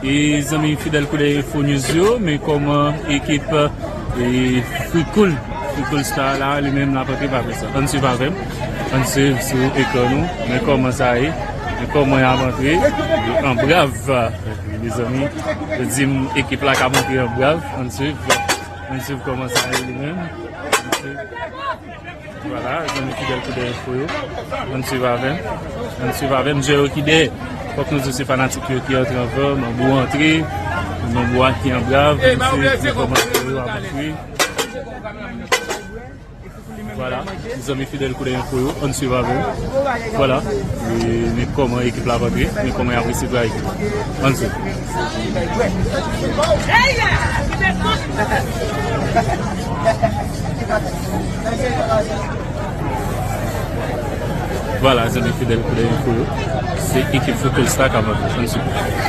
E zanmi fidèl koulè info news yo men kòman ekip frikoul frikoul star la li menm lap antre pa pè sa ann swiv avèm ann swiv sou ekran nou men kòman sa ye men kòman yap antre an brav mezanmi yo dim ekip la kap antre an brav ann swiv ann swiv kòman sa ye li menm ann swiv. Vwala zanmi fidèl koudèy enfo yo ann swiv avèm ann swiv avèm zye yo ki dèyè fòk nou di se fanatik yo ki antre ankò manbo antre manbo a ki anbrav se nan kòmantè yo ap ekri vwala zanmi fidèl koudèy enfo yo ann swiv avèm vwala men kòman ekip la ap antre men kòman yap resi vwala ekip la ann swiv avèm Vwala zanmi fidèl koulè enfo yo, se ekip Fokol Star k ap antre san sikonsi.